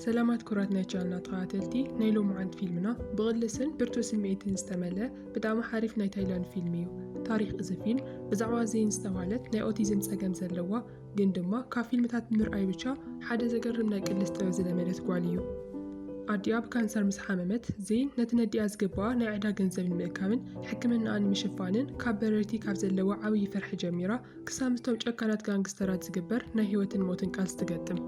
ሰላማት ኩራት ናይ ቻልና ተኸታተልቲ ናይ ሎምዓንቲ ፊልምና ብቕልስን ብርቱዕ ስምዒትን ዝተመልአ ብጣዕሚ ሓሪፍ ናይ ታይላንድ ፊልም እዩ ታሪክ እዚ ፊልም ብዛዕባ ዘይን ዝተባህለት ናይ ኦቲዝም ጸገም ዘለዋ ግን ድማ ካብ ፊልምታት ብምርኣይ ብቻ ሓደ ዘገርም ናይ ቅልስ ጥበብ ዝለመደት ጓል እዩ ኣዲኣ ብካንሰር ምስ ሓመመት ዜን ነቲ ነዲኣ ዝግብኣ ናይ ዕዳ ገንዘብ ንምእካብን ሕክምናኣ ንምሽፋንን ካብ በረርቲ ካብ ዘለዋ ዓብዪ ፍርሒ ጀሚራ ክሳብ ምስቶም ጨካናት ጋንግስተራት ዝግበር ናይ ህይወትን ሞትን ቃልሲ ትገጥም።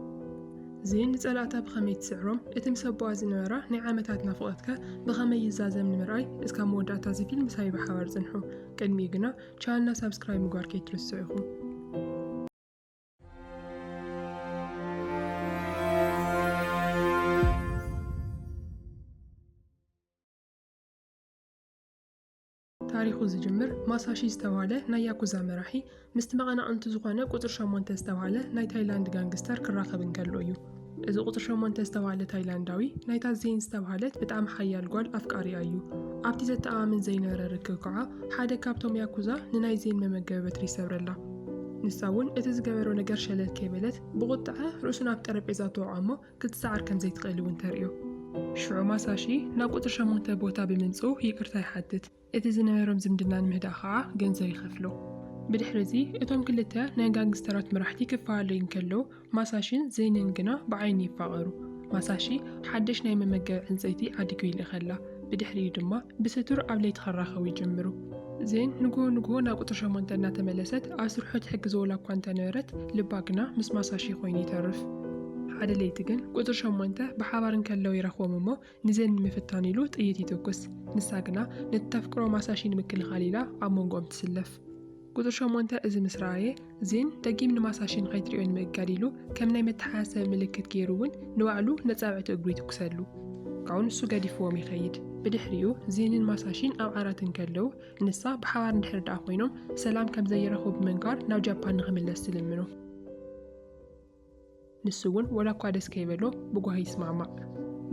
ዚን ንጸላእታ ብኸመይ ትስዕሮም፣ እቲ ምስ ኣቦኣ ዝነበራ ናይ ዓመታት ናፍቖትከ ብኸመይ ይዛዘም ንምርኣይ እስካብ መወዳእታ እዚ ፊልም ምሳይ ብሓባር ጽንሑ። ቅድሚኡ ግና ቻነልና ሳብስክራይብ ምግባር ከይትርስዑ ኢኹም። ታሪኹ ዝጅምር ማሳሺ ዝተብሃለ ናይ ያኩዛ መራሒ ምስቲ መቐናቕንቱ ዝኾነ ቁፅሪ ሸሞንተ ዝተብሃለ ናይ ታይላንድ ጋንግስተር ክራኸብ እንከሎ እዩ። እዚ ቁፅሪ ሸሞንተ ዝተብሃለ ታይላንዳዊ ናይታ ዜን ዝተብሃለት ብጣዕሚ ሓያል ጓል ኣፍቃሪኣ እዩ። ኣብቲ ዘተኣማምን ዘይነበረ ርክብ ከዓ ሓደ ካብቶም ያኩዛ ንናይ ዜን መመገቢ በትሪ ይሰብረላ። ንሳ እውን እቲ ዝገበሮ ነገር ሸለል ከይበለት ብቑጥዐ ርእሱ ናብ ጠረጴዛ ተወቕዖ እሞ ክትሰዓር ከም ዘይትኽእል እውን ተርእዮ። ሽዑ ማሳሺ ናብ ቁጽሪ ሸሞንተ ቦታ ብምምጽኡ ይቅርታ ይሓትት፣ እቲ ዝነበሮም ዝምድና ንምህዳእ ከኣ ገንዘብ ይኸፍሎ። ብድሕሪ'ዚ እቶም ክልተ ናይ ጋንግስተራት መራሕቲ ክፈላለዩ እንከለዉ፣ ማሳሺን ዘይንን ግና ብዓይኒ ይፋቐሩ። ማሳሺ ሓድሽ ናይ መመገቢ ዕንጸይቲ ዓዲጉ ይልእኸላ። ብድሕሪኡ ድማ ብሰቱር ኣብ ለይቲ ክራኸቡ ይጅምሩ። ዜን ንግሆ ንግሆ ናብ ቁፅሪ ሸሞንተ እናተመለሰት ኣብ ስርሑ ትሕግዘዎላ እኳ እንተነበረት ልባ ግና ምስ ማሳሺ ኮይኑ ይተርፍ። ሓደ ለይቲ ግን ቁፅሪ ሸሞንተ ብሓባር እንከለዉ ይረኽቦም እሞ ንዜን ንምፍታን ኢሉ ጥይት ይትኩስ። ንሳ ግና ነቲ ተፍቅሮ ማሳሺ ንምክልኻል ኢላ ኣብ መንጎኦም ትስለፍ። ቁጽሪ ሸሞንተ እዚ ምስ ረኣየ፣ ዚን ደጊም ንማሳሺ ንኸይትርእዮ ንምእጋድ ኢሉ፣ ከም ናይ መተሓሳሰቢ ምልክት ገይሩ ውን ንባዕሉ ነጻብዕቲ እግሩ ይትኩሰሉ። ካብኡ ንሱ ገዲፍዎም ይኸይድ። ብድሕሪኡ ዚንን ማሳሺን ኣብ ዓራት እንከለዉ፣ ንሳ ብሓባር እንድሕሪ ደኣ ኮይኖም ሰላም ከም ዘይረኽቡ ብምንጋር ናብ ጃፓን ንኽምለስ ትልምኖ። ንሱ'ውን ወላ እኳ ደስ ከይበሎ ብጓሂ ይስማዕማዕ።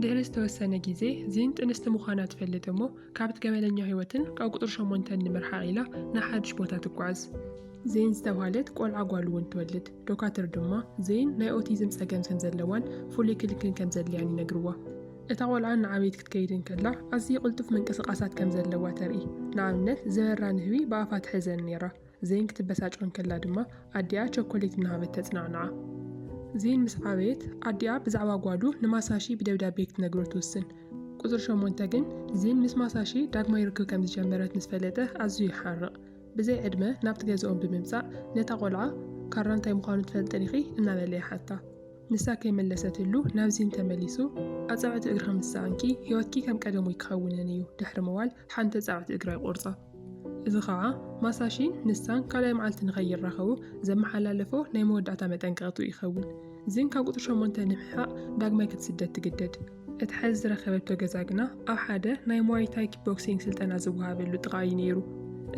ድሕሪ ዝተወሰነ ግዜ ዚን ጥንስቲ ምዃና ትፈልጥ እሞ ካብ'ቲ ገበነኛ ህይወትን ካብ ቁጽሪ ሸሞንተን ንምርሓቕ ኢላ ናብ ሓድሽ ቦታ ትጓዓዝ። ዜን ዝተብሃለት ቆልዓ ጓል'ውን ትወልድ። ዶካትር ድማ ዜን ናይ ኦቲዝም ጸገም ከም ዘለዋን ፍሉይ ክንክን ከም ዘድልያን ይነግርዋ። እታ ቆልዓ እናዓበየት ክትከይድ እንከላ ኣዝዪ ቅልጡፍ ምንቅስቓሳት ከም ዘለዋ ተርኢ። ንኣብነት ዝበራ ንህቢ ብኣፋ ትሕዘን ነይራ። ዜን ክትበሳጮ እንከላ ድማ ኣዲኣ ቸኮሌት እናሃበት ተጽናንዓ። ዜን ምስ ዓበየት፣ ኣዲኣ ብዛዕባ ጓሉ ንማሳሺ ብደብዳቤ ክትነግሮ ትውስን። ቁጽሪ ሸሞንተ ግን፣ ዜን ምስ ማሳሺ ዳግማይ ርክብ ከም ዝጀመረት ምስ ፈለጠ ኣዝዩ ይሓርቕ። ብዘይ ዕድመ ናብቲ ገዝኦም ብምምጻእ፣ ነታ ቈልዓ፣ ካራ እንታይ ምዃኑ ትፈልጢ ዲኺ? እናበለ ይሓታ። ንሳ ከይመለሰትሉ ናብ ዜን ተመሊሱ፣ ኣጻብዕቲ እግርኺ ምስ ሰኣንኪ፣ ህይወትኪ ከም ቀደሙይ ክኸውንን እዩ፣ ድሕሪ ምባል ሓንቲ ጻዕቲ እግራ ይቖርጻ። እዚ ኸኣ ማሳሺን ንሳን ካልኣይ መዓልቲ ንኸይራኸቡ ዘመሓላለፎ ናይ መወዳእታ መጠንቀቕትኡ ይኸውን። ዚን ካብ ቁጽሪ ሸሞንተ ንምሕሓቕ ዳግማይ ክትስደድ ትግደድ። እቲ ሓዚ ዝረኸበቶ ገዛ ግና ኣብ ሓደ ናይ ሙዋይ ታይ ኪክቦክሲንግ ስልጠና ዝወሃበሉ ጥቓ እዩ ነይሩ።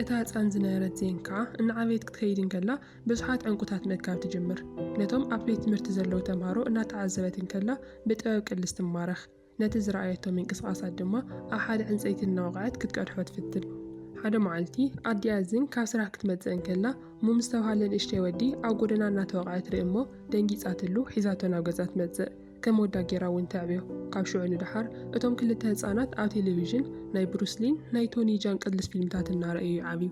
እታ ህጻን ዝነበረት ዜን ከኣ እናዓበየት ክትከይድ እንከላ ብዙሓት ዕንቊታት ምእካብ ትጅምር። ነቶም ኣብ ቤት ትምህርቲ ዘለዉ ተምሃሮ እናተዓዘበት እንከላ ብጥበብ ቅልስ ትማረኽ። ነቲ ዝረኣየቶ ምንቅስቓሳት ድማ ኣብ ሓደ ዕንጸይቲ እናወቕዐት ክትቀድሖ ትፍትን። ሓደ መዓልቲ፣ ኣዲኣ ዝን ካብ ስራሕ ክትመጽእ እንከላ፣ ሙም ዝተባህለ ንእሽተይ ወዲ ኣብ ጎደና እናተወቕዐ ትርኢ እሞ፣ ደንጊጻትሉ ሒዛቶ ናብ ገዛ ትመጽእ። ከም ወዳ ገይራ እውን ተዕብዮ። ካብ ሽዑ ንደሓር፣ እቶም ክልተ ህጻናት ኣብ ቴሌቪዥን ናይ ብሩስ ሊን ናይ ቶኒ ጃን ቅልስ ፊልምታት እናረኣዩ ይዓብዩ።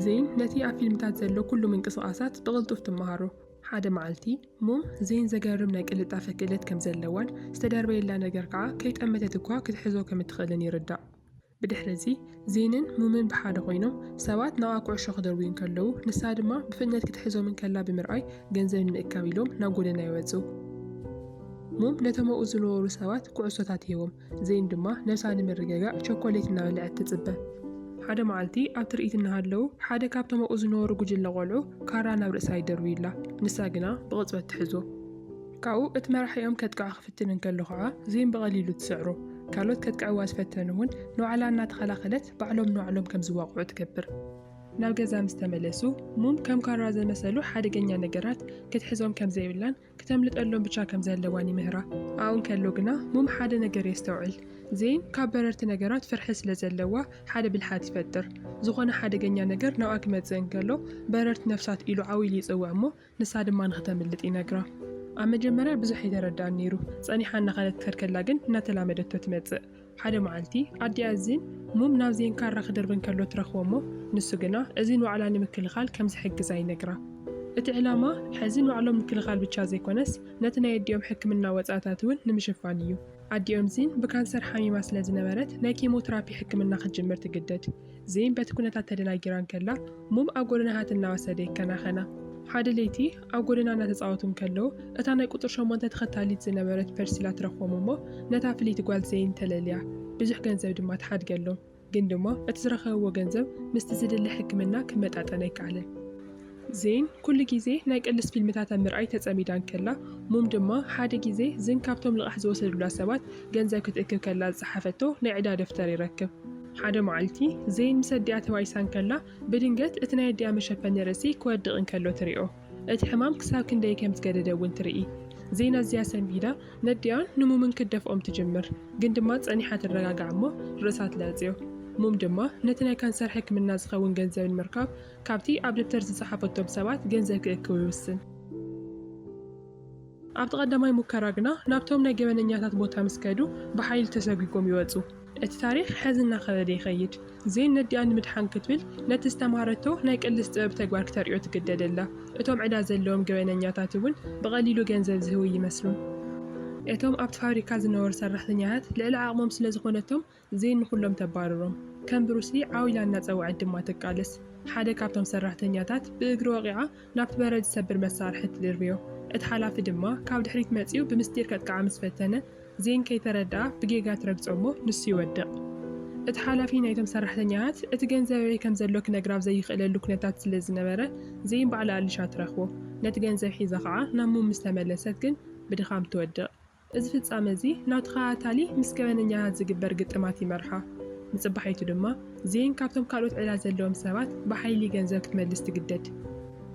ዝይን ነቲ ኣብ ፊልምታት ዘሎ ኩሉ ምንቅስቓሳት ብቕልጡፍ ትመሃሮ። ሓደ መዓልቲ፣ እሞ ዘይን ዘገርም ናይ ቅልጣፈ ክእለት ከም ዘለዋን ዝተደርበየላ ነገር ከኣ ከይጠመተት እኳ ክትሕዞ ከም እትኽእልን ይርዳእ። ብድሕሪ'ዚ ዘይንን ሙምን ብሓደ ኮይኖም ሰባት ንኣ ኩዕሾ ክድርብዩ እንከለዉ ንሳ ድማ ብፍጥነት ክትሕዞም እንከላ ብምርኣይ ገንዘብ ንምእካብ ኢሎም ናብ ጎደና ይወጹ። ሙም ነቶም ኣብኡ ዝነበሩ ሰባት ኩዕሶታት ይህቦም። ዜን ድማ ነብሳ ንምርግጋእ ቸኮሌት እናበልዐት ትጽበ። ሓደ መዓልቲ ኣብ ትርኢት እናሃለዉ ሓደ ካብቶም ኣብኡ ዝነበሩ ጉጅለ ቆልዑ ካራ ናብ ርእሳ ይደርብዩላ፣ ንሳ ግና ብቕጽበት ትሕዞ። ካብኡ እቲ መራሒኦም ከጥቅዖ ክፍትን እንከሎ ኸኣ ዜን ብቐሊሉ ትስዕሮ። ካልኦት ከጥቅዕዋ ዝፈተኑ እውን ንባዕላ እናተኸላኸለት ባዕሎም ንባዕሎም ከም ዝዋቕዑ ትገብር። ናብ ገዛ ምስ ተመለሱ ሙን ከም ካራ ዘመሰሉ ሓደገኛ ነገራት ክትሕዞም ከም ዘይብላን ክተምልጠሎም ብቻ ከም ዘለዋን ይምህራ። ኣብኡ እንከሎ ግና ሙም ሓደ ነገር የስተውዕል። ዜን ካብ በረርቲ ነገራት ፍርሒ ስለ ዘለዋ ሓደ ብልሓት ይፈጥር። ዝኾነ ሓደገኛ ነገር ናብኣ ክመጽእ እንከሎ በረርቲ ነፍሳት ኢሉ ዓው ኢሉ ይጽውዕ እሞ ንሳ ድማ ንኽተምልጥ ይነግራ። ኣብ መጀመርያ ብዙሕ ኣይተረድኣን ነይሩ። ጸኒሓ እናኸደት ክትከድ ከላ ግን እናተላመደቶ ትመጽእ። ሓደ መዓልቲ ኣዲኣ እዚን ሙም ናብ ዜን ካራ ክድርቢ እንከሎ ትረኽቦ እሞ ንሱ ግና እዚን ዋዕላ ንምክልኻል ከም ዝሕግዛ ይነግራ። እቲ ዕላማ ሕዚ ንባዕሎም ምክልኻል ብቻ ዘይኮነስ ነቲ ናይ ኣዲኦም ሕክምና ወጻእታት እውን ንምሽፋን እዩ። ኣዲኦም ዚን ብካንሰር ሓሚማ ስለ ዝነበረት ናይ ኬሞትራፒ ሕክምና ክትጅምር ትግደድ። ዜን በቲ ኩነታት ተደናጊራ እንከላ ሙም ኣብ ጎደና ሃት እናወሰደ ይከናኸና። ሓደ ለይቲ ኣብ ጎደና እናተጻወቱ እንከለዉ እታ ናይ ቁጽሪ ሸሞንተ ተኸታሊት ዝነበረት ፐርሲላ ትረኽቦም እሞ ነታ ፍልይቲ ጓል ዜን ተለልያ ብዙሕ ገንዘብ ድማ ትሓድገሎም። ግን ድማ እቲ ዝረኸብዎ ገንዘብ ምስቲ ዝድለ ሕክምና ክመጣጠን ኣይከኣለን። ዜን ኩሉ ግዜ ናይ ቅልስ ፊልምታት ኣብ ምርኣይ ተጸሚዳ እንከላ፣ ሙም ድማ ሓደ ግዜ ዝን ካብቶም ልቓሕ ዝወሰዱላ ሰባት ገንዘብ ክትእክብ ከላ ዝጸሓፈቶ ናይ ዕዳ ደፍተር ይረክብ። ሓደ መዓልቲ፣ ዜን ምስ ኣዲኣ ተባኢሳ እንከላ፣ ብድንገት እቲ ናይ ኣዲኣ መሸፈኒ ርእሲ ክወድቕ እንከሎ ትሪኦ። እቲ ሕማም ክሳብ ክንደይ ከም ዝገደደ እውን ትርኢ። ዜን ኣዝያ ሰንቢዳ ነዲኣን ንሙምን ክትደፍኦም ትጅምር። ግን ድማ ጸኒሓ ትረጋጋዕ እሞ ርእሳ ትላጽዮ። ሙም ድማ ነቲ ናይ ካንሰር ሕክምና ዝኸውን ገንዘብ ንምርካብ ካብቲ ኣብ ደብተር ዝጸሓፈቶም ሰባት ገንዘብ ክእክብ ይውስን። ኣብቲ ቀዳማይ ሙከራ ግና ናብቶም ናይ ገበነኛታት ቦታ ምስ ከዱ ብሓይሊ ተሰጒጎም ይወጹ። እቲ ታሪኽ ሐዚ እናኸበደ ይኸይድ። ዜን ነዲኣ ንምድሓን ክትብል ነቲ ዝተማሃረቶ ናይ ቅልስ ጥበብ ተግባር ክተርእዮ ትግደድ ኣላ። እቶም ዕዳ ዘለዎም ገበነኛታት እውን ብቐሊሉ ገንዘብ ዝህቡ ኣይመስሉን። እቶም ኣብቲ ፋብሪካ ዝነበሩ ሰራሕተኛታት ልዕሊ ዓቕሞም ስለዝኾነቶም ዜን ንኹሎም ተባርሮም። ከም ብሩስሊ ዓው ኢላ እናጸውዐት ድማ ትቃለስ። ሓደ ካብቶም ሰራሕተኛታት ብእግሪ ወቒዓ ናብቲ በረድ ዝሰብር መሳርሒ ትድርብዮ። እቲ ሓላፊ ድማ ካብ ድሕሪት መጺኡ ብምስጢር ከጥቅዓ ምስ ፈተነ፣ ዜን ከይተረድኣ ብጌጋ ትረግጾ እሞ ንሱ ይወድቕ። እቲ ሓላፊ ናይቶም ሰራሕተኛታት እቲ ገንዘብ ኣበይ ከም ዘሎ ክነግራ ኣብ ዘይኽእለሉ ኩነታት ስለ ዝነበረ፣ ዜን ባዕላ ኣሊሻ ትረኽቦ። ነቲ ገንዘብ ሒዛ ኸኣ ናብ ሙም ምስ ተመለሰት ግን ብድኻም ትወድቕ። እዚ ፍጻመ እዚ ናብ ተኸታታሊ ምስ ገበነኛታት ዝግበር ግጥማት ይመርሖ። ንጽባሒቱ ድማ ዜን ካብቶም ካልኦት ዕዳ ዘለዎም ሰባት ብሓይሊ ገንዘብ ክትመልስ ትግደድ።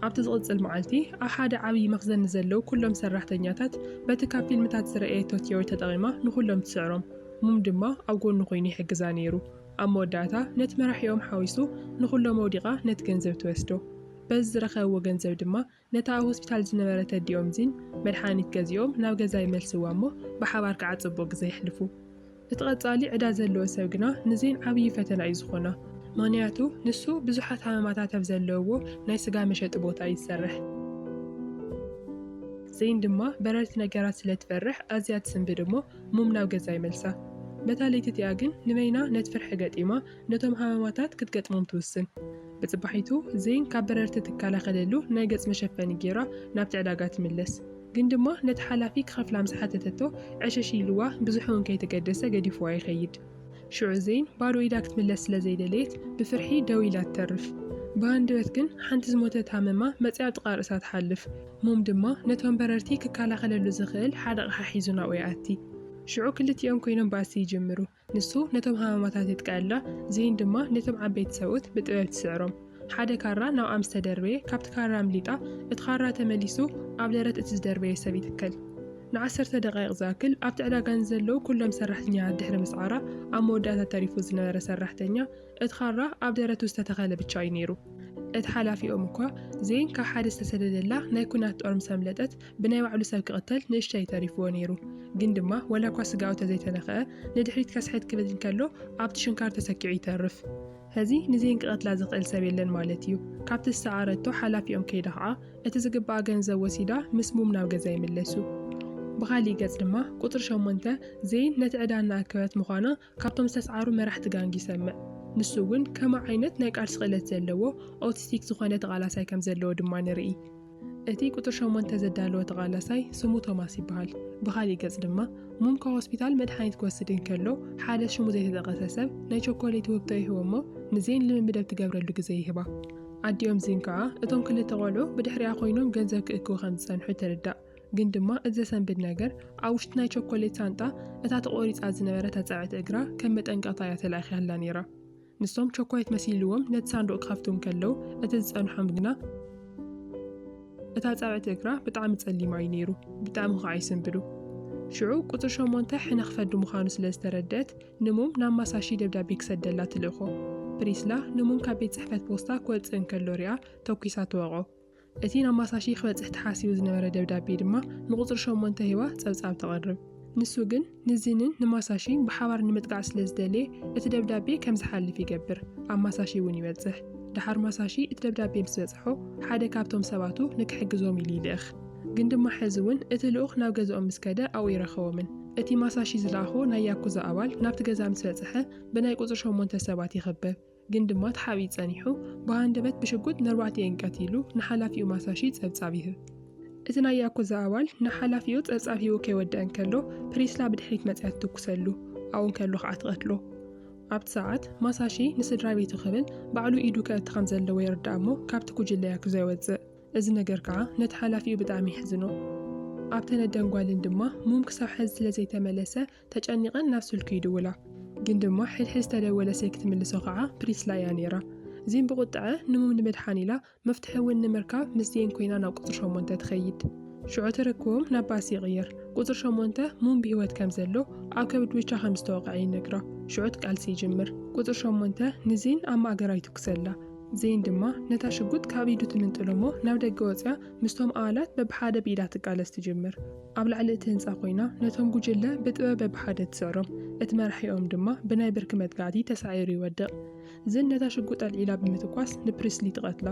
ኣብቲ ዝቕጽል መዓልቲ ኣብ ሓደ ዓብዪ መኽዘን ንዘለዉ ኩሎም ሰራሕተኛታት በቲ ካብ ፊልምታት ዝረኣየቶ ቲዮሪ ተጠቒማ ንኹሎም ትስዕሮም። ሙም ድማ ኣብ ጎኑ ኮይኑ ይሕግዛ ነይሩ። ኣብ መወዳእታ ነቲ መራሒኦም ሓዊሱ ንኹሎም ኣውዲቓ ነቲ ገንዘብ ትወስዶ። በዚ ዝረኸብዎ ገንዘብ ድማ ነታ ኣብ ሆስፒታል ዝነበረት ኣዲኦም ዚን መድሓኒት ገዚኦም ናብ ገዛ ይመልስዋ እሞ ብሓባር ከዓ ፅቡቕ ግዘ የሕልፉ። እቲ ቐፃሊ ዕዳ ዘለዎ ሰብ ግና ንዚን ዓብዪ ፈተና እዩ ዝኾና። ምኽንያቱ ንሱ ብዙሓት ሃመማታት ኣብ ዘለውዎ ናይ ስጋ መሸጢ ቦታ እዩ ዝሰርሕ። ዚን ድማ በረርቲ ነገራት ስለ ትፈርሕ ኣዝያ ትስንብድ እሞ ሙም ናብ ገዛ ይመልሳ። በታ ለይቲ እቲኣ ግን ንበይና ነቲ ፍርሒ ገጢማ ነቶም ሃመማታት ክትገጥሞም ትውስን። ብጽባሒቱ ዘይን ካብ በረርቲ እትከላኸለሉ ናይ ገጽ መሸፈኒ ገይራ ናብቲ ዕዳጋ ትምለስ። ግን ድማ ነቲ ሓላፊ ክኸፍላ ምስ ሓተተቶ ዕሽሽ ኢሉዋ ብዙሕ'ውን ከይተገደሰ ገዲፉዋ ይኸይድ። ሽዑ ዘይን ባዶ ኢዳ ክትምለስ ስለ ዘይደለየት ብፍርሒ ደው ኢላ ትተርፍ። ብሃንደበት ግን ሓንቲ ዝሞተት ሃመማ መጺኣ ኣብ ጥቓ ርእሳ ትሓልፍ። ሞም ድማ ነቶም በረርቲ ክከላኸለሉ ዝኽእል ሓደ ኣቕሓ ሒዙ ናብኡ ይኣቲ። ሽዑ ክልቲኦም ኮይኖም ባእሲ ይጅምሩ። ንሱ ነቶም ሃማማታት የጥቅዐላ፣ ዝይን ድማ ነቶም ዓበይቲ ሰብኡት ብጥበብ ትስዕሮም። ሓደ ካራ ናብኣ ምስ ተደርበየ፣ ካብቲ ካራ ኣምሊጣ፣ እቲ ካራ ተመሊሱ ኣብ ደረት እቲ ዝደርበየ ሰብ ይትከል። ንዓሰርተ ደቓይቕ ዝኣክል ኣብቲ ዕዳጋ ንዘለዉ ኵሎም ሰራሕተኛታት ድሕሪ ምስዓራ፣ ኣብ መወዳእታ ተሪፉ ዝነበረ ሰራሕተኛ፣ እቲ ካራ ኣብ ደረቱ ዝተተኸለ ብቻ እዩ ነይሩ። እቲ ሓላፊኦም እኳ፣ ዝይን ካብ ሓደ ዝተሰደደላ ናይ ኲናት ጦር ምስ ኣምለጠት፣ ብናይ ባዕሉ ሰብ ክቕተል ንእሽተይ ተሪፍዎ ነይሩ። ግን ድማ ዋላኳ ስጋኡ ተዘይተነኽዐ፣ ንድሕሪት ከስሕት ክብል እንከሎ ኣብቲ ሽንካር ተሰኪዑ ይተርፍ። ሕዚ ንዜን ክቐትላ ዝኽእል ሰብ የለን ማለት እዩ። ካብቲ ዝሰዓረቶ ሓላፊኦም ከይዳ ኸዓ እቲ ዝግብኣ ገንዘብ ወሲዳ ምስ ሙም ናብ ገዛ ይምለሱ። ብኻሊእ ገፅ ድማ ቁፅሪ ሸሞንተ ዜን ነቲ ዕዳ እናኣከበት ምዃና ካብቶም ዝተስዓሩ መራሕቲ ጋንግ ይሰምዕ። ንሱ እውን ከማ ዓይነት ናይ ቃልሲ ክእለት ዘለዎ ኦቲስቲክ ዝኾነ ተቓላሳይ ከም ዘለዎ ድማ ንርኢ። እቲ ቁጽሪ ሸሞንተ ዘዳለወ ተቓላሳይ ስሙ ቶማስ ይበሃል። ብኻሊእ ገጽ ድማ ሙምካ ሆስፒታል መድሓኒት ክወስድ እንከሎ ሓደ ሽሙ ዘይተጠቐሰ ሰብ ናይ ቸኮሌቲ ውህብቶ ይህቦ'ሞ ንዜን ልምምድ ኣብ ትገብረሉ ግዜ ይህባ። ኣዲኦም ዚን ከኣ እቶም ክልተ ቆልዑ ብድሕሪኣ ኮይኖም ገንዘብ ክእክቡ ከም ዝጸንሑ ትርዳእ። ግን ድማ እቲ ዘሰንብድ ነገር፣ ኣብ ውሽጢ ናይ ቸኮሌት ሳንጣ እታ ተቖሪጻ ዝነበረት ኣጻብዕቲ እግራ ከም መጠንቀቕታ እያ ተላኢኻትላ ነይራ። ንሶም ቸኮሌት መሲልዎም ነቲ ሳንዱቕ ክኸፍቱ እንከለዉ፣ እቲ ዝጸንሖም ግና እቲ ኣጻብዕቲ እግራ ብጣዕሚ ጸሊም ኣዩ ነይሩ፣ ብጣዕሚ ኸኣ ይስንብዱ። ሽዑ ቁጽሪ ሸሞንተ ሕነ ክፈዲ ምዃኑ ስለ ዝተረድኣት፣ ንሙም ናብ ማሳሺ ደብዳቤ ክሰደላ ትልእኮ። ፕሪስላ ንሙም ካብ ቤት ጽሕፈት ፖስታ ክወጽእ እንከሎ ሪኣ ተኲሳ ትወቕዖ። እቲ ናብ ማሳሺ ክበጽሕ ተሓሲቡ ዝነበረ ደብዳቤ ድማ ንቁጽሪ ሸሞንተ ሂባ ጸብጻብ ተቕርብ። ንሱ ግን ንዚንን ንማሳሺ ብሓባር ንምጥቃዕ ስለ ዝደለየ እቲ ደብዳቤ ከም ዝሓልፍ ይገብር። ኣብ ማሳሺ እውን ይበጽሕ። ደሓር ማሳሺ እቲ ደብዳቤ ምስ በጽሖ ሓደ ካብቶም ሰባቱ ንክሕግዞም ኢሉ ይልእኽ። ግን ድማ ሕዚ እውን እቲ ልኡኽ ናብ ገዝኦም ምስ ከደ ኣብኡ ኣይረኸቦምን። እቲ ማሳሺ ዝለኣኾ ናይ ያኩዛ ኣባል ናብቲ ገዛ ምስ በጽሐ ብናይ ቁጽሪ ሸሞንተ ሰባት ይኽበብ። ግን ድማ ተሓቢኡ ጸኒሑ፣ ብሃንደበት ብሽጉጥ ነርባዕቲኤን ቀቲሉ ንሓላፊኡ ማሳሺ ጸብጻብ ይህብ። እቲ ናይ ያኩዛ ኣባል ንሓላፊኡ ጸብጻብ ሂቡ ከይወደኣ እንከሎ፣ ፕሪስላ ብድሕሪት መጺኣ ትትኩሰሉ፣ ኣብኡ እንከሎ ከኣ ትቐትሎ። ኣብቲ ሰዓት፣ ማሳሺ ንስድራቤቱ ክብል ባዕሉ ኢዱ ከእቲ ከም ዘለዎ ይርዳእ እሞ ካብቲ ጉጅለ ያኩዛ ይወጽእ። እዚ ነገር ከኣ ነቲ ሓላፊኡ ብጣዕሚ የሕዝኖ። ኣብተን ኣደን ጓልን ድማ ሙም ክሳብ ሐዚ ስለ ዘይተመለሰ ተጨኒቐን ናብ ስልኩ ይድውላ። ግን ድማ ሕድሕድ ዝተደወለ ስልኪ ትምልሶ ኸዓ ፕሪስላ እያ ነይራ። ዚን ብቑጥዐ ንሙም ንምድሓን ኢላ መፍትሒ እውን ንምርካብ ምስ ዜን ኮይና ናብ ቁፅሪ ሸሞንተ ትኸይድ። ሽዑ ትርክቦም ናብ ባስ ይቕየር። ቁፅሪ ሸሞንተ ሙም ብህይወት ከም ዘሎ ኣብ ከብድ ብቻ ከም ዝተወቕዐ ይነግራ። ሽዑ እቲ ቃልሲ ይጅምር። ቁፅሪ ሸሞንተ ንዜን ኣብ ማእገራ ይትኩሰላ። ዜን ድማ ነታ ሽጉጥ ካብ ኢዱ ትምንጥሎ'ሞ ናብ ደገ ወፂኣ ምስቶም ኣባላት በብሓደ ብኢዳ ትቃለስ ትጅምር። ኣብ ላዕሊ እቲ ህንጻ ኮይና ነቶም ጉጅለ ብጥበበ ብሓደ ትስዕሮም፣ እቲ መራሒኦም ድማ ብናይ ብርኪ መጥቃዕቲ ተሳዒሩ ይወድቕ። ዝን ነታ ሽጉጥ ኣልዒላ ብምትኳስ ንፕሪስሊ ትቐትላ።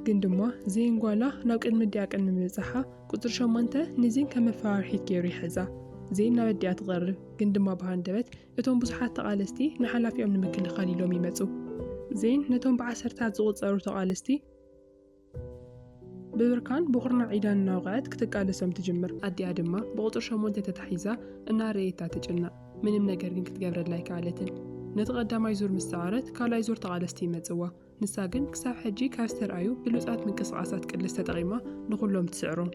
ግን ድማ ዝን ጓላ ናብ ቅድሚ ኣዲኣ ቅድሚ ምብጻሓ ቁጽሪ ሸሞንተ ንዝን ከም መፈራርሒት ገይሩ ይሕዛ። ዝን ናብ ኣዲኣ ትቐርብ፣ ግን ድማ ብሃንደበት እቶም ብዙሓት ተቓለስቲ ንሓላፊኦም ንምክልኻል ኢሎም ይመጹ። ዝን ነቶም ብዓሰርተታት ዝቑጸሩ ተቓለስቲ፣ ብብርካን ብኹርናዕ ኢዳን እናወቕዐት ክትቃለሶም ትጅምር። ኣዲኣ ድማ ብቑጽሪ ሸሞንተ ተታሒዛ እናረኣየታ ትጭነቕ። ምንም ነገር ግን ክትገብረላ ኣይከኣለትን። ነቲ ቀዳማይ ዙር ምስ ሰዓረት ካልኣይ ዙር ተቓለስቲ ይመጽዋ። ንሳ ግን ክሳብ ሕጂ ካብ ዝተርኣዩ ብሉጻት ምንቅስቓሳት ቅልስ ተጠቒማ ንኹሎም ትስዕሮም።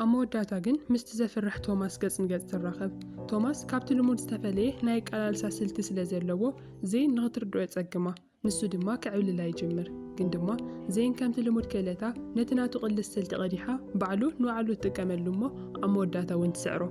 ኣብ መወዳእታ ግን ምስቲ ዘፍርሕ ቶማስ ገጽ ንገጽ ትራኸብ። ቶማስ ካብቲ ልሙድ ዝተፈለየ ናይ ኣቀላልሳ ስልቲ ስለ ዘለዎ ዜን ንኽትርድኦ የጸግማ። ንሱ ድማ ክዕብልላ ይጅምር ግን ድማ ዘይን ከምቲ ልሙድ ክእለታ ነቲ ናቱ ቅልስ ስልቲ ቀዲሓ ባዕሉ ንባዕሉ ትጥቀመሉ እሞ ኣብ መወዳእታ እውን ትስዕሮ።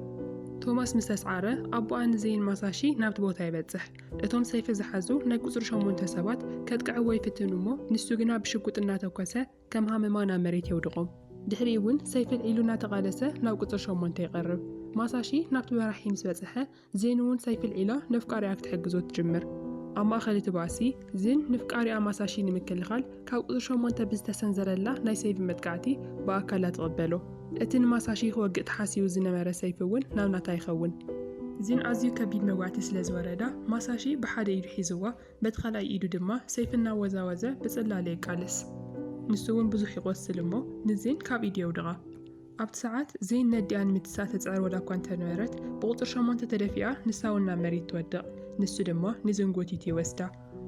ቶማስ ምስ ኣስዓረ ኣቦኣ ንዘይን ማሳሺ ናብቲ ቦታ ይበጽሕ። እቶም ሰይፊ ዝሓዙ ናይ ቁጽሪ ሸሞንተ ሰባት ከጥቅዕዎ ይፍትኑ እሞ ንሱ ግና ብሽጉጥ እናተኮሰ ከም ሃመማ ናብ መሬት የውድቖም። ድሕሪኡ እውን ሰይፊ ኣልዒሉ እናተቓለሰ ናብ ቁጽሪ ሸሞንተ ይቐርብ። ማሳሺ ናብቲ መራሒ ምስ በጽሐ ዚን'ውን ሳይክል ዒላ ነፍቃሪኣ ክትሕግዞ ትጅምር። ኣብ ማእከል እቲ ባእሲ፣ ዚን ንፍቃሪኣ ማሳሺ ንምክልኻል ካብ ቁጽሪ ሸሞንተ ብዝተሰንዘረላ ናይ ሰይፊ መጥቃዕቲ ብኣካላ ትቕበሎ። እቲ ንማሳሺ ክወግእ ተሓሲቡ ዝነበረ ሰይፊ'ውን ናብ ናታ ይኸውን። ዚን ኣዝዩ ከቢድ መጓእቲ ስለ ዝወረዳ፣ ማሳሺ ብሓደ ኢዱ ሒዝዋ፣ በቲ ካልኣይ ኢዱ ድማ ሰይፊ እናወዛወዘ ብጽላለ የቃልስ። ንሱ'ውን ብዙሕ ይቖስል እሞ ንዚን ካብ ኢዱ የውድቓ። ኣብቲ ሰዓት ዘይነዲኣ ንምትሳእ ተጽዕር ወላ እኳ እንተ ነበረት፣ ብቑጽሪ ሸሞንተ ተደፊኣ ንሳ እውን ናብ መሬት ትወድቕ። ንሱ ድማ ንዝን ጎቲቱ ይወስዳ።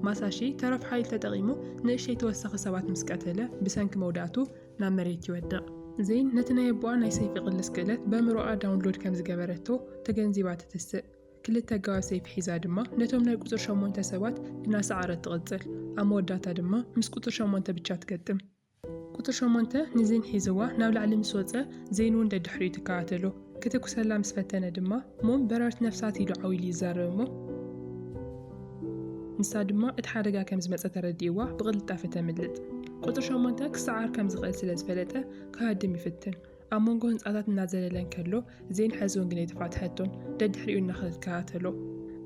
ማሳሺ ተረፍ ሓይሊ ተጠቒሙ ንእሽተይ ተወሳኺ ሰባት ምስ ቀተለ፣ ብሰንኪ መውዳእቱ ናብ መሬት ይወድቕ። ዝን ነቲ ናይ ኣቦኣ ናይ ሰይፊ ቅልስ ክእለት በእምሮኣ ዳውንሎድ ከም ዝገበረቶ ተገንዚባ ትትስእ። ክልተ ኣገባብ ሰይፊ ሒዛ ድማ ነቶም ናይ ቁጽሪ ሸሞንተ ሰባት እናሰዓረት ትቕጽል። ኣብ መወዳእታ ድማ ምስ ቁጽሪ ሸሞንተ ብቻ ትገጥም። ቁጽሪ ሸሞንተ ንዚን ሒዝዋ ናብ ላዕሊ ምስ ወጸ፣ ዜን እውን ደድሕሪኡ ትከታተሎ። ክትኩሰላ ምስ ፈተነ ድማ፣ ሞም በረርቲ ነፍሳት ኢሉ ዓው ኢሉ ይዛረብ እሞ፣ ንሳ ድማ እቲ ሓደጋ ከም ዝመጸ ተረዲእዋ ብቕልጣፈ ተምልጥ። ቁጽሪ ሸሞንተ ክሰዓር ከም ዝኽእል ስለ ዝፈለጠ ክሃድም ይፍትን። ኣብ መንጎ ህንጻታት እናዘለለ እንከሎ ዜን ሐዚውን ግን ኣይተፋትሐቶን፣ ደድሕሪኡ እናኸደት ከታተሎ።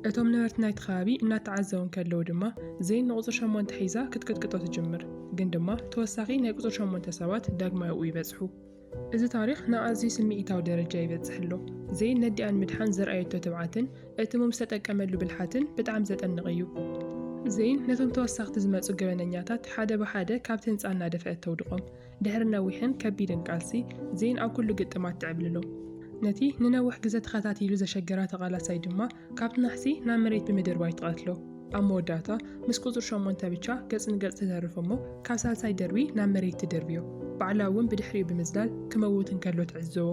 እቶም ነበርቲ ናይቲ ከባቢ እናተዓዘቡ እንከለዉ ድማ ዜን ንቁጽሪ ሸሞንተ ሒዛ ክትቅጥቅጦ ትጅምር፣ ግን ድማ ተወሳኺ ናይ ቁጽሪ ሸሞንተ ሰባት ዳግማይ ኣብኡ ይበጽሑ። እዚ ታሪኽ ናብ ኣዝዩ ስምዒታዊ ደረጃ ይበጽሕ ኣሎ። ዜን ነዲኣ ንምድሓን ዘርኣየቶ ትብዓትን እቲ ሙም ዝተጠቀመሉ ብልሓትን ብጣዕሚ ዘጠንቕ እዩ። ዜን ነቶም ተወሳኽቲ ዝመጹ ገበነኛታት ሓደ ብሓደ ካብቲ ህንጻ እናደፍአት ተውድቖም። ድሕሪ ነዊሕን ከቢድን ቃልሲ፣ ዜን ኣብ ኩሉ ግጥማ ትዕብልሎ። ነቲ ንነውሕ ግዘ ተኸታቲሉ ዘሸገራ ተቓላሳይ ድማ ካብ ናሕሲ ናብ መሬት ብምድርባይ ትቐትሎ። ኣብ መወዳእታ ምስ ቁፅሪ ሸሞንተ ብቻ ገፅ ንገፅ ትተርፍ እሞ ካብ ሳልሳይ ደርቢ ናብ መሬት ትድርብዮ። ባዕላ እውን ብድሕሪኡ ብምዝላል ክመውት እንከሎ ትዕዘቦ።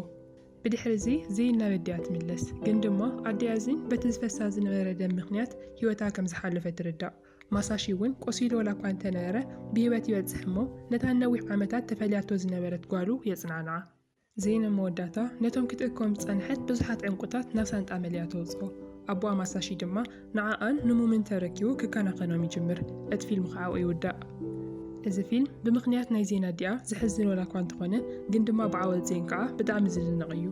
ብድሕሪ እዚ ዜን ናብ ኣዲኣ ትምለስ። ግን ድማ ኣዲኣ ዜን በቲ ዝፈሳ ዝነበረ ደም ምኽንያት ህይወታ ከምዝሓለፈ ትርዳእ። ማሳሺ እውን ቆሲሉ ዋላኳ እንተነበረ ብህይወት ይበጽሕ እሞ ነታ ንነዊሕ ዓመታት ተፈልያቶ ዝነበረት ጓሉ የጽናንዓ። ዜና መወዳእታ ነቶም ክትእክቦም ዝጸንሐት ብዙሓት ዕንቊታት ናብ ሳንጣ መሊኣ ተውጽኦ። ኣቦኣ ማሳሺ ድማ ንዓኣን ንሙምን ተረኪቡ ክከናኸኖም ይጅምር። እቲ ፊልም ከኣ ኣብኡ ይውዳእ። እዚ ፊልም ብምኽንያት ናይ ዜን ኣዲኣ ዘሕዝን ዋላኳ እንተኾነ ግን ድማ ብዓወት ዜን ከኣ ብጣዕሚ ዝድነቕ እዩ።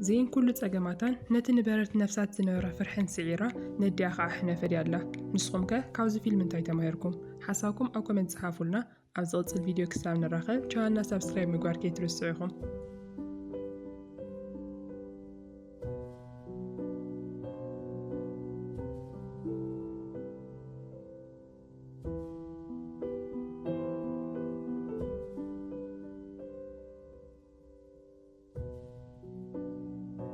ዜን ኩሉ ጸገማታን ነቲ ንበረርቲ ነፍሳት ዝነበራ ፍርሕን ስዒራ ነዲኣ ከኣ ሕነ ፈድያላ። ንስኹም ከ ካብዚ ፊልም እንታይ ተማሂርኩም? ሓሳብኩም ኣብ ኮመንት ጽሓፉልና። ኣብ ዝቕጽል ቪድዮ ክሳብ ንራኸብ ቻናልና ሳብስክራይብ ምግባር ከይትርስዑ ኢኹም።